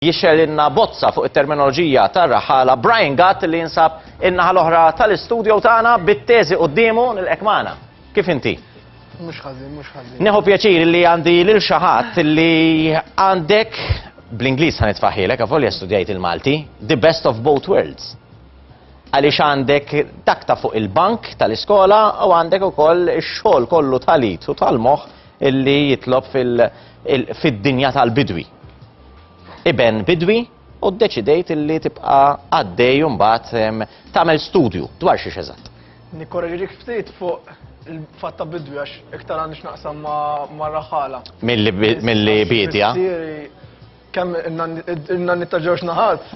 Jixxerrilna bozza fuq it-terminoloġija tar-raħħala Brian Gatt li jinsab in-naħa l-oħra tal-istudio tagħna bit-teżi quddiemu. Nilqgħek magħna. Kif inti? Mhux ħażin, mhux ħażin. Nieħu pjaċir li għandi lil xi ħadd li għandek bl-Ingliż ħa nitfaħħilek avolja studjajt il-Malti, the best of both worlds. Għaliex għandek dak ta' fuq il-bank tal-iskola u għandek ukoll ix-xogħol kollu tal-it u tal-moħħ illi jitlob fil- fid-dinja tal-bidwi. iben bidwi u ddeċidejt illi tibqa' għaddej u mbagħad em, tagħmel studju dwar xiex eżatt. Nikkoreġirik ftit fuq il-fatt ta' bidwi għax iktar għandix naqsam ma' ma' raħala. Milli bi- milli biedja. Missieri, Kemm il-nanni ta' ġewx naħat,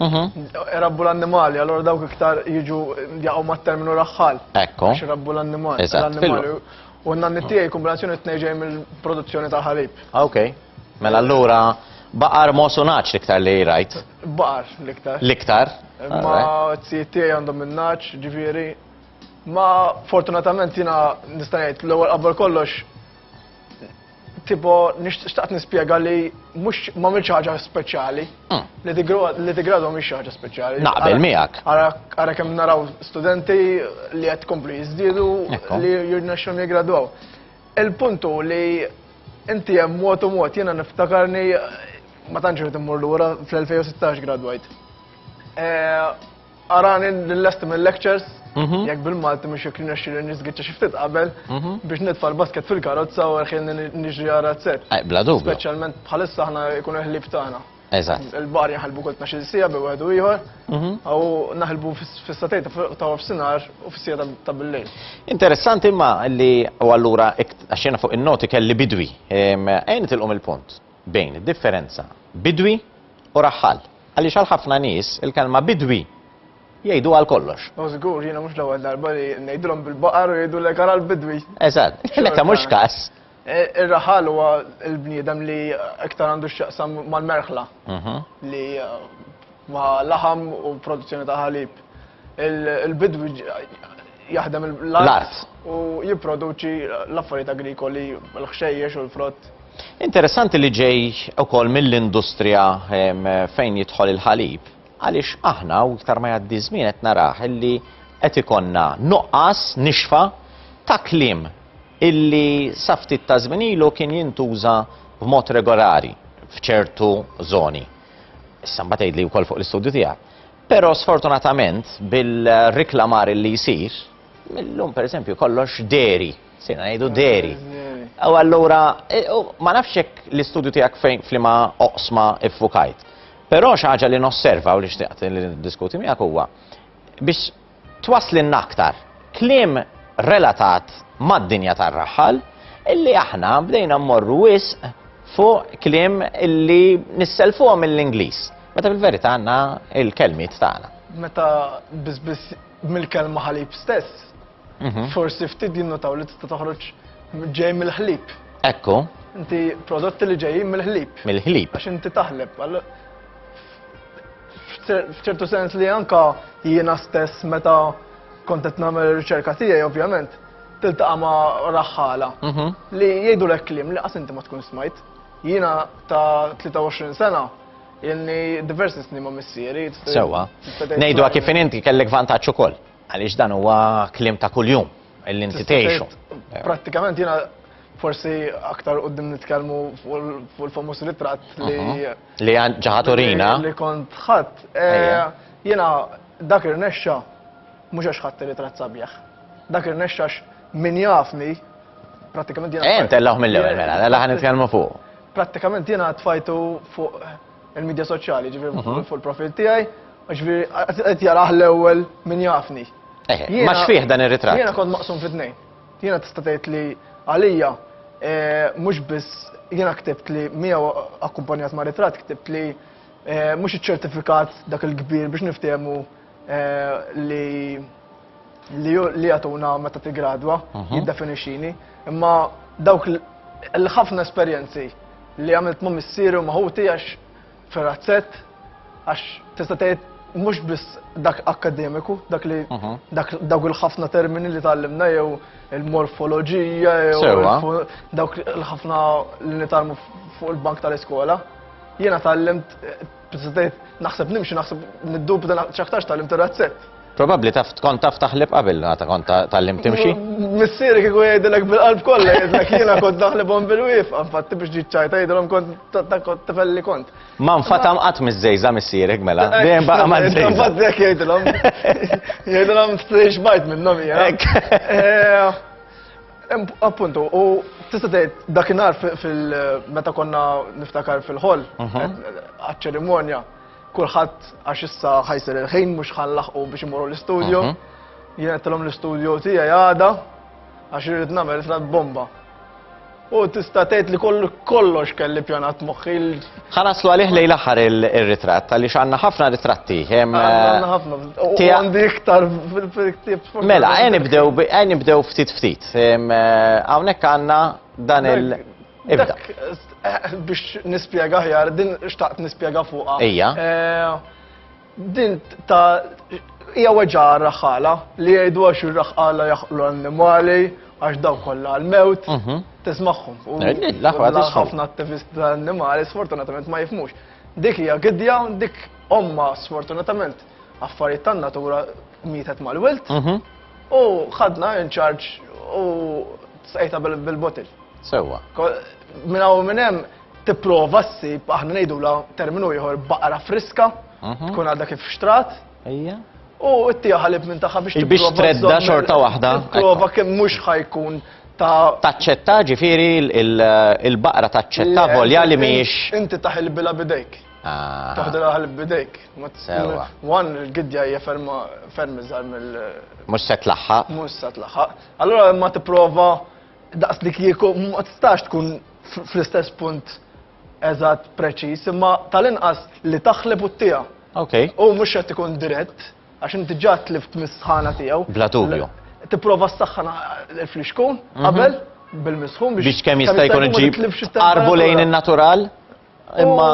rabbu l-annimali, allora dawk iktar jiġu jaqgħu mat-terminu raħħal. Ekku. Għax rabbu l-annimali. Eżatt, l-annimali. fil- U n-nanni tiegħi kombinazzjoni t-tnejn ġej mill-produzzjoni tal-ħalib. Ah, ok. Mela allura baqar mosu naċ l-iktar li rajt. Baqar l-iktar. L-iktar. Ma t-sijiet tiegħi għandhom min-naċ, ġifieri. Ma fortunatament jiena nista' ngħid l-ewwel qabel kollox tipo nixtaqt nispjega li mhux ma mhix ħaġa speċjali. Hmm. Li tigradu mhix ħaġa speċjali. Naqbel miegħek. Ara kemm naraw studenti li qed komplu jiżdiedu li jirnexxhom jiggradwaw. Il-punt hu li inti hemm mod u mod, jiena niftakarni ma tantx irid immur lura fl-2016 gradwajt. Arani l-lesti mill-lectures, mhm. jekk bil-Malti mhux jekk nirnexxi nisgiċċa xi ftit qabel mhm. biex nitfa' l-basket fil-karozza u ħin niġri għara t-set. Bla dubju. Speċjalment bħalissa aħna jkunu ħlieb tagħna. Eżatt. Il-baħar jinħalbu kull tnax-il siegħa bejn wieħed u ieħor, mhm. u naħlbu fis-satejn ta' wafsinhar u fis-siegħa ta' bil-lejl. Interessanti imma li u allura għaxxena fuq in-noti kelli bidwi. Għajn tilqom il-punt bejn id-differenza bidwi u raħħal. Għaliex għal ħafna nies il-kelma bidwi jgħidu għal kollox. U żgur jiena mhux l-ewwel darba li ngħidulhom bil-baqar u jgħidu l-ekar għal bidwi. Eżatt, meta mhux każ. Ir-raħal huwa l-bniedem li iktar għandu x'jaqsam mal-merħla li ma' laħam u produzzjoni ta' ħalib. Il-bidwi jaħdem l-art u jipproduċi l-affarijiet agrikoli, l-ħxejjex u l-frott. Interessanti li ġej ukoll mill-industrija fejn jidħol il-ħalib għaliex aħna u iktar ma jgħaddi żmien qed narah illi qed ikollna nuqqas nixfa ta' kliem illi sa ftit ta' żmien ilu kien jintuża b'mod regolari f'ċertu żoni. Issa mbagħad tgħidli wkoll fuq l-istudju tiegħek. Però sfortunatament bil-riklamar illi jsir, millum pereżempju kollox deri, sejna ngħidu deri. U allura e, ma nafx hekk l-istudju tiegħek fejn flima oqsma iffukajt. Però xi ħaġa li nosserva u li xtaqt li diskuti miegħek huwa biex twasslilna aktar kliem relatat mad-dinja tar-raħħal illi aħna bdejna mmorru wisq fuq kliem illi nisselfuhom mill-Ingliż. Meta fil-verità għandna il-kelmiet tagħna. Meta biss mill-kelma ħalib stess, mhm. forsi ftit jinnotaw li tista' toħroġ ġej mill-ħlib. Ekku. Inti prodotti li ġejjin mill-ħlib. Mill-ħlib. Għax inti taħleb. F'ċertu sens li anka jiena stess meta kont qed nagħmel ir-riċerka tiegħi ovvjament tiltaqa' ma' raħħala mhm. li jgħidu lek kliem li qas inti ma tkun smajt. Jiena ta' 23 sena jenni diversi snin ma' missieri. Sewa. Ngħidu kif inti kellek vantaġġ ukoll għaliex dan huwa kliem ta' kuljum illi inti tgħixu. Prattikament jiena forsi aktar qudiem nitkellmu fuq il-famuż ritratt li mhm. Li għan ġaħa Torina? Li kont ħadd. Jiena dak irnexxa mhux għax ħadd ritrat sabiħ. Dak irnexxa għax min jafni prattikament jiena. Eh, ntellgħuh mill-ewwel mela, la mela ħan nitkellmu fuq. Prattikament jiena tfajtu fuq il-medja soċjali, ġifieri mhm. fuq il-profil tiegħi, ġifieri qed jarah l-ewwel min jafni. Eh, ma xfih dan ir-ritratt? Jiena kont maqsum fit-tnejn. Jiena tista' tgħid li għalija mhux biss jiena ktibt li miegħu akkumpanjat ma' ritratt ktibt li mhux iċ-ċertifikat dak il-kbir biex niftiehmu li li jagħtuna meta tiggradwa jiddefinixxini, imma dawk il-ħafna esperjenzi li għamilt ma' missieri u ma' ħuti għax fir-razzett għax tista' tgħid mhux biss dak akkademiku, dak li mhm. dak dawk il-ħafna termini li tgħallimna jew il-morfoloġija jew dawk il-ħafna li nitalmu fuq il-bank tal-iskola. Jiena tgħallimt eh, naħseb nimxi naħseb niddubda ċaktarx tgħallimt ir-razzett. Probabbli taf tkun taf taħleb qabel għata kont ta- tgħallim timxi. Missieri kieku jgħidilek bil-qalb kollha jgħidlek jiena kont naħlibhom bil-wif, infatti biex ġiet ċajta jgħidilhom kont ta- ta' kont tifel li kont. Ma nfatam qatt miż-żejża missierek mela. Dejjem baqa' ma' żejża. Infatti jekk jgħidilhom. Jgħidilhom strix bajt minnhom hija. Hekk. Eh, em- Appuntu, u tista' tgħid dakinhar fi- fil meta konna niftakar fil-ħol, Mhm. għaċ-ċerimonja, Kulħadd għax issa ħajsir il-ħin mhux ħanlaħqu biex imorru l-istudju. Mhm. Jien għedtilhom l-istudju tiegħi għada għax irid nagħmel frat bomba. U tista' tgħid li kollu kollox kelli pjanat moħħi. Ħanaslu għalih lejn l-aħħar ir-ritratt għaliex għandna ħafna ritratti. Għandna eh, ħafna. Għandi iktar fil-ktieb. Mela, għen nibdew ftit ftit. Eh, hawnhekk għandna dan il- Ibda. Biex nispjega aħjar, din xtaqt nispjega fuqha. Ejja. Din ta' hija weġa' raħħala li jgħidu għax ir-raħħala jaħqlu l-annimali għax dawn kollha għall-mewt tismagħhom. Ħafna attivisti tal-annimali sfortunatament ma jifmux. Dik hija gidja, dik omma sfortunatament affarijiet tan-natura mietet mal-wilt u ħadna in charge u tsqejta bil-botil. Sewwa. Minn hawn u minn hemm tipprova ssib, aħna ngħidulha terminu ieħor, baqra friska, tkun għadha kif xtrat. Ejja. U ttiha ħalib minn tagħha biex Biex tredda xorta waħda. Prova kemm mhux ħajkun ta' taċċetta ġifieri il-baqra taċċetta volja li mhijiex. Inti taħilbilha bidejk. Ah. Taħdilha ħalib bidejk. Sewa. Wan il-gidja hija ferma ferm iżgħar mill. Mhux se tlaħħaq. Mhux se tlaħħaq. Allura ma tipprova Daqs li kieku ma tistax tkun fl-istess punt eżatt preċiż, imma tal-inqas li taħleb u t-tija. Ok. U mhux qed ikun dirett, għax inti ġa tlift mis-sħana tiegħu. Bla dubju. Tipprova s-saħħan il-flixkun mhm. qabel bil-misħun biex kemm jista' jkun iġib qarbu lejn in-natural imma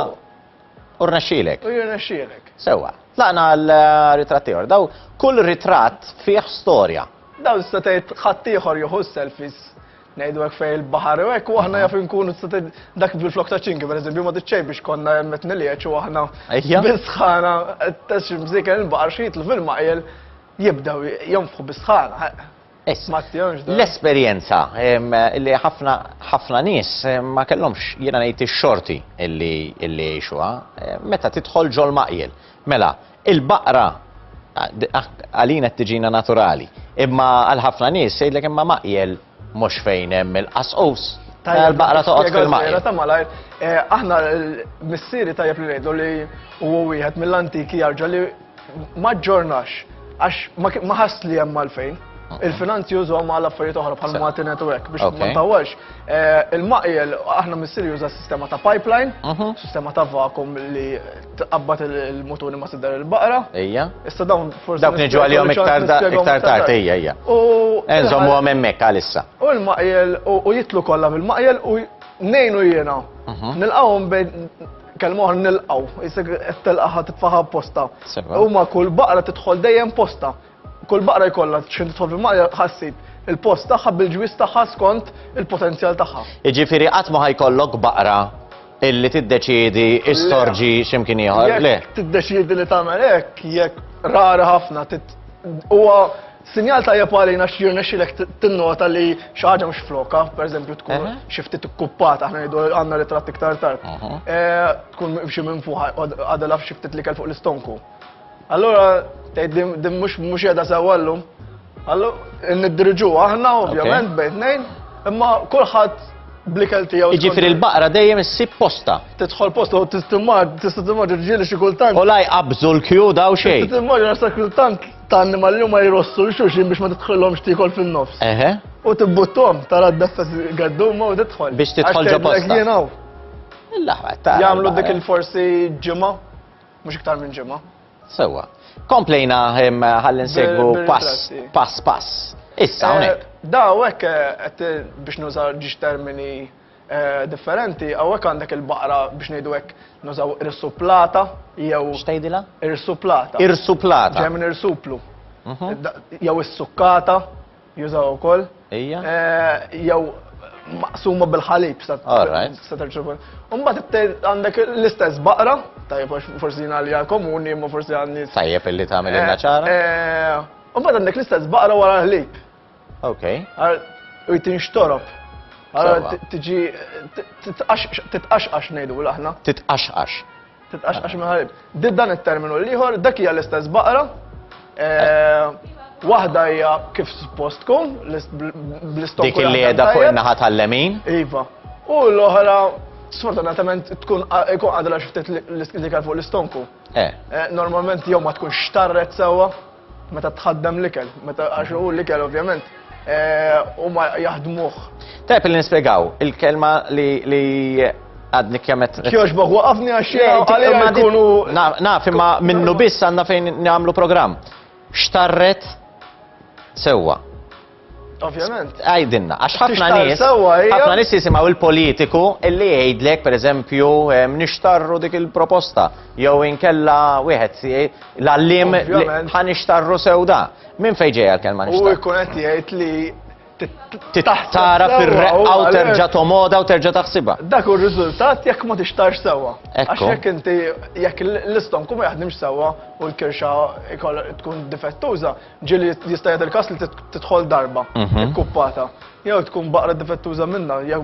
U rnexxielek. U jirnexxielek. Sewwa. Tlaqna għal eh, ritratti ieħor. Daw kull ritratt fih storja. Daw tista' tgħid ħadd ieħor jieħu selfies ngħidu hekk fejn il-baħar u hekk u aħna jaf inkunu tista' tgħid dak bil-flok ta' ċinki pereżempju ma tiċċej biex konna hemmet nilieċ u aħna bisħana qed tgħix mżiken il-baħar xi jitlu fil-maqjel jibdew jonfħu bisħana. Issa, l-esperjenza li ħafna ħafna nies ma kellhomx jiena ngħid ix-xorti illi jgħixuha meta tidħol ġol-maqjel. Mela, il-baqra għalina qed tiġina naturali, imma għal ħafna nies jgħidlek imma maqjel mhux fejn hemm il-qasqus. Tajjeb, il-baqra toqgħod fil-maqjel. Spjega żgħira ta' malajr, aħna missieri tajjeb li ngħidlu li huwa wieħed mill-antiki jarġa' li Ma ġġornax, għax ma ħass li hemm għalfejn. Il-finanzi jużhom għal affarijiet oħra bħal Malti Network biex ma ntawwalx. Eh, il-maqjel aħna missir juża sistema ta' pipeline, mhm. sistema ta' vakum li tqabbad il-mutuni ma siddar il-baqra. Ejja. Issa dawn forsi. Dawk niġu għalihom iktar tard ejja ejja. U. Enżom u hemmhekk għalissa. U l-maqjel u jitlu kollha mill-maqjel u nejnu jiena. Mhm. Nilqawhom bejn Kelma oħra nilqgħu, isek qed telqaħa titfaħa apposta. Sewa. Huma kull baqra tidħol dejjem posta. Kull baqra jkollha xejn tidħol fil-maqja ħassib il-post tagħha bil-ġwiż tagħha skont il-potenzjal tagħha. Jiġifieri qatt ma ħajkollok baqra illi tiddeċiedi istorġi x'imkien ieħor. Le. Jekk tiddeċiedi li tagħmel hekk, jekk rara ħafna tit- huwa Sinjal tajjeb għalina xi jirnexxilek tinnota li xi ħaġa mhux flokha, pereżempju tkun xi ftit ikkuppata, aħna ngħidu għandna ritratt iktar tard. Eh, tkun xi minn fuq għadha xi ftit l-ikel fuq l-istonku. Allura tgħid din mhux mhux qiegħda sewwa llum. Allura niddirġu aħna ovvjament bejn tnejn, imma kulħadd blikel tiegħu. Jiġifieri l-baqra dejjem issib posta. Tidħol posta u tistimma, tistimma ġieli xi kultant. U laj qabżu l-kju daw xejn. Tistimma ġieli xi kultant ta' annimali li huma jrossu l xulxin biex ma tidħolhomx tiekol fin-nofs. Eħe. U tibbuttom tara d-dassa gadduma u tidħol. Biex tidħol ġo bosta. Jagħmlu dik il-forsi ġimgħa, mhux iktar minn ġimgħa. Sewwa. Komplejna ħalli nsegwu pass pass pass. Issa eh, hawnhekk. Daw hekk eh, biex nuża ġiex termini differenti, hawnhekk għandek il-baqra biex ngħidu hekk nużaw irsuplata jew. X'tgħidilha? Irsuplata. Irsuplata. Ġej minn irsuplu. Jew is-sukkata jużaw ukoll. Ejja. Jew maqsuma bil-ħalib sa terċu. Mbagħad għandek l-istess baqra, tajjeb forsi jien għalija komuni, imma forsi għandi. Tajjeb illi tagħmel il-naċara. Mbagħad għandek l-istess baqra wara l-ħlib. Ok. U tinxtorob. Għara tiġi titqaxqax nejdu l-aħna. Titqaxqax. Titqaxqax maħarib. Did dan il-terminu l-liħor, dak hija l-istess baqra. Eh, Waħda hija kif suppost tkun, bl-istok. Dik li qiegħda fuq in-naħa tal-lemin. Iva. U l-oħra sfortunatament tkun ikun għadra xiftet li kal fuq l-istonku. Eh. eh normalment jew ma tkun xtarret sewwa. Meta tħaddem l-ikel, meta għax hu l-ikel ovvjament huma jaħdmuh. Tajb li nispjegaw il-kelma li għadni kjamet. Kjox boħ, waqafni għaxxina għalina jkunu. Naf, imma minnu biss għanna fejn għamlu program. Xtarret sewa. Ovvjament. Għajdinna, għax ħafna nies. ħafna nies jisimgħu il-politiku illi jgħidlek, pereżempju, nixtarru dik il-proposta. Jew inkella wieħed l-għallim ħa nixtarru sewda. Min fejn ġejja l-kelma nixtarru? U jkun qed jgħid li tara fir-reqqa u terġa' tomoda u terġa' taħsibha. Dak hu r-riżultat jekk ma tixtarx sewwa. Għax jekk inti jekk l-istom kum jaħdimx sewwa u l-kirxa tkun difettuża, Ġieli jista' jagħti l-każ li tidħol darba mhm. ikkuppata. Jew tkun baqra difettuża minnha, jew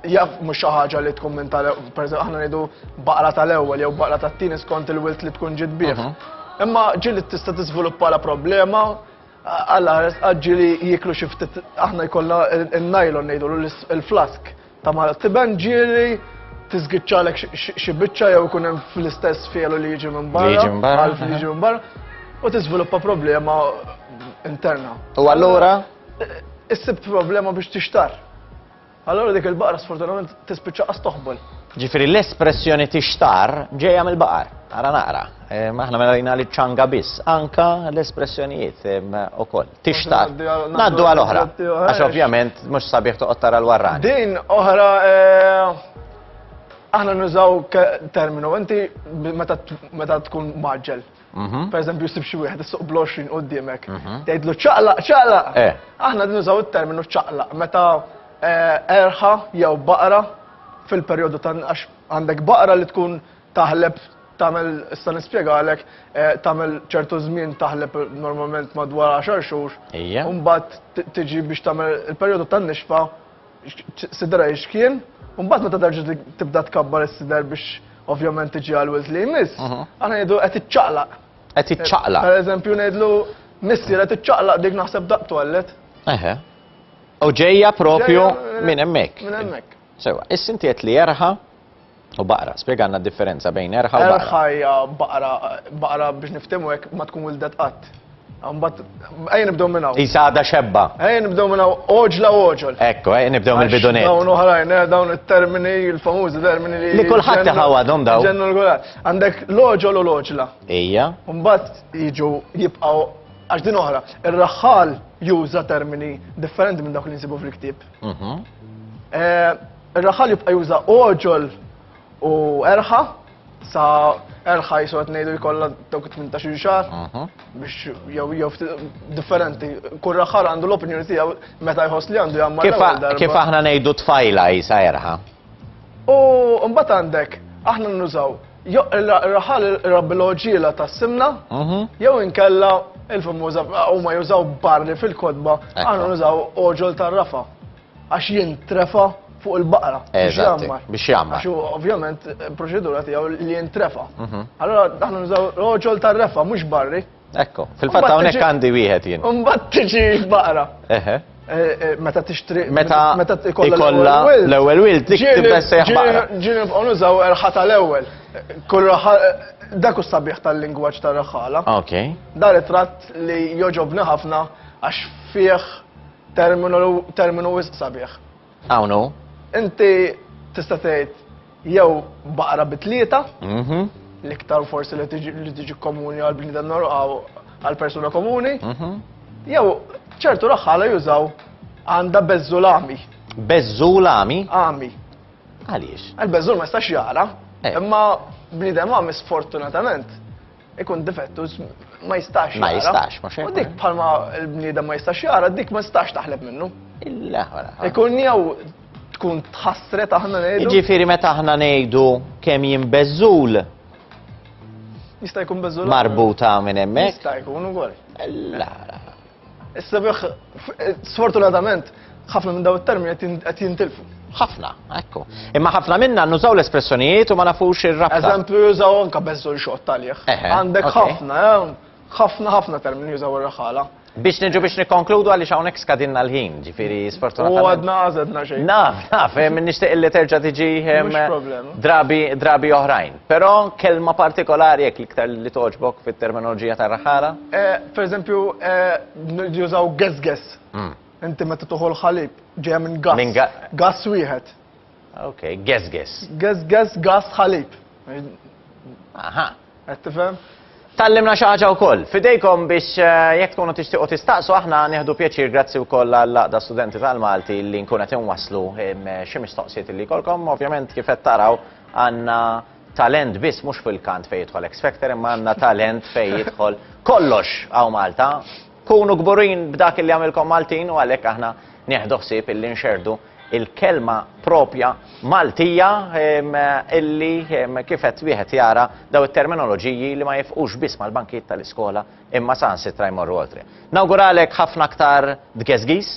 jaf mhux xi ħaġa li tkun minn tal pereżempju aħna ngħidu baqra tal-ewwel jew baqra tat-tieni skont il-wilt li tkun ġid bih. Mhm. Imma ġieli tista' tiżviluppa la problema għal ġieli jiklu xi ftit aħna jkollna n-najlon ngħidu l-flask Ta' mara tiben ġieli, tiżgiċċalek xi biċċa jew ikun hemm fl-istess fielu li jiġi minn barra. Jiġi minn barra. Li jiġi minn barra. U tiżviluppa problema interna. U allura? Issib problema biex tixtar. Allora dik il-baqra sfortunatament tispiċċa qas toħbol. Ġifieri l-espressjoni tixtar ġejja mill-baqar. Ara naqra. Aħna mela rina li ċanga biss, anka l-espressjonijiet ukoll. tixtar. Naddu għal oħra, għax ovvjament mhux sabiħ toqgħod tara l-warran. Din oħra eh, aħna nużaw terminu, inti meta tkun maġġel. Mhm. Per eżempju, sib xi wieħed issuq bloxin qudiemek. Mhm. Tgħidlu ċaqlaq, ċaqlaq. Eh. Aħna nużaw it-terminu ċaqlaq meta eh, erħa jew baqra fil-perjodu ta' għax għandek baqra li tkun Taħleb tagħmel issa nispjegalek, tagħmel ċertu żmien taħleb normalment madwar għaxar xhur. Ejja. U mbagħad tiġi biex tagħmel il-perjodu tan-nixfa sidra x'kien, u mbagħad meta terġa' tibda tkabbar is-sider biex ovvjament tiġi għal wilt li jmiss, aħna ngħidu qed iċċaqlaq. Qed iċċaqlaq. Per eżempju ngħidlu missier qed iċċaqlaq dik naħseb daqq twellet. Eħe. U ġejja propju minn hemmhekk. Minn hemmhekk. Sewa, is-sintiet li jerħa' U baqra, spjegalna d-differenza bejn erħa u baqra. Erħa hija baqra, baqra biex niftimu hekk ma tkun wildet qatt. Mbagħad ejja nibdew minn hawn. Isa għadha xebba. Ejja nibdew minn hawn oġla oġol. Ekku, ejja nibdew mill-bidunet. Dawn oħrajn, eh, dawn it-termini, il-famużi termini li. Li kulħadd taħawadhom daw. Ġennu l-gulat. Għandek l-oġol u l-oġla. Ija. Mbagħad jiġu jibqgħu għax din oħra. Ir-raħħal juża termini differenti minn dawk li nsibu fil-ktieb. Mhm. Eh, Ir-raħal jibqa' juża għoġol u erħa sa erħa jisu qed ngħidu jkollha dawk 18 xahar mhm. biex jew jew differenti. Kull raħal għandu l-opinjoni tiegħu meta jħoss li għandu jagħmel. Kif aħna ngħidu tfajla jisa erħa? U mbagħad għandek aħna nużaw raħal rabbiloġila ta' simna mhm. jew inkella il-famuża huma jużaw barri fil-kodba aħna nużaw oġol tar-rafa. għax jintrefa fuq il-baqra. Biex jammar. Biex jammar. Għax ovvjament proċedura tiegħu li jintrefa. Mhm. Allora aħna nużaw roġol tar-refa mhux barri. Ekko, fil-fatt hawnhekk għandi wieħed jien. Imbagħad tiġi baqra. Eħe. Eh, eh, meta tixtri meta meta ikolla l-ewwel wild dik tibda sejħ baqra. Ġieni nibqgħu nużaw erħata l-ewwel. Kull dak u sabiħ tal-lingwaġġ tar-raħala. Ok. Dar it-tratt li joġobni ħafna għax fih Terminu wisq sabiħ. Hawn hu. Inti tista' tgħid jew baqra bi tlieta, mhm. l-iktar forsi li tiġi komuni għal bniedem għal persuna komuni, mhm. jew ċertu raħħala jużaw għandha bezzulami. Bezzulami? Ami. Għaliex? Għal-bezzul ma jistax jara, eh. imma bniedem għami sfortunatament ikun difettus ma jistax jara. Ma jistax, ma xejn. U dik bħalma l-bniedem ma jistax jara, dik ma jistax taħleb minnu. Ikun jew tkun tħassret aħna ngħidu. Ġifieri meta aħna ngħidu kemm jinbeżżul. Jista' jkun beżżul. Marbuta minn hemmhekk. Jista' jkun ukoll. La, la. Is-sebiħ, sfortunatament, ħafna minn daw it-termini qed jintilfu. Ħafna, ekku. Imma ħafna minna nużaw l-espressjonijiet u ma nafux ir-rabta. Eżempju, jużaw anka beżżu li xoqt taljeħ. Għandek ħafna, eh, ħafna ħafna termini jużaw ir-raħala. Biex nġu biex nikonkludu għaliex hawnhekk skadinna l-ħin, ġifieri sfortunatament. U għadna għażedna xejn. Naf, naf, eh, nixtieq li terġa' tiġi eh, drabi drabi oħrajn. Però kelma partikolari hekk l-iktar li togħġbok fit-terminoloġija tar-raħala? Pereżempju, jużaw gessgess. Inti meta tieħu l-ħalib, ġejja minn gass. Minn ga-. Gass wieħed. Ok, gessgess. Gessgess, gass, ħalib. Aha. Qed tifhem? Tgħallimna xi ħaġa wkoll. F'idejkom biex jekk tkunu tixtiequ tistaqsu aħna nieħdu pjaċir grazzi wkoll għall-Għaqda Studenti tal-Malti li nkun qed inwasslu xi mistoqsijiet li jkollkom. Ovvjament kif qed taraw Għandna talent biss mhux fil-kant fejn jidħol X Factor imma għandna talent fejn jidħol kollox hawn Malta. Kunu kburin b'dak illi jagħmilkom Maltin u għalhekk aħna nieħdu ħsieb illi nxerrdu il-kelma proprja Maltija illi kif qed wieħed jara dawn it-terminoloġiji li ma jifqux biss mal-bankijiet tal-iskola Imma saħansitra jmorru oltre. Nawguralek ħafna aktar dgeżgiż,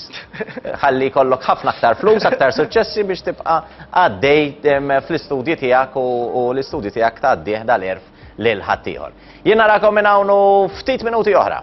ħalli jkollok ħafna aktar flus, aktar suċċessi biex tibqa' għaddej fl-istudji tiegħek u l-istudji tiegħek tgħaddih dal-għerf lil ħaddieħor. Jien narakom minn hawn ftit minuti oħra.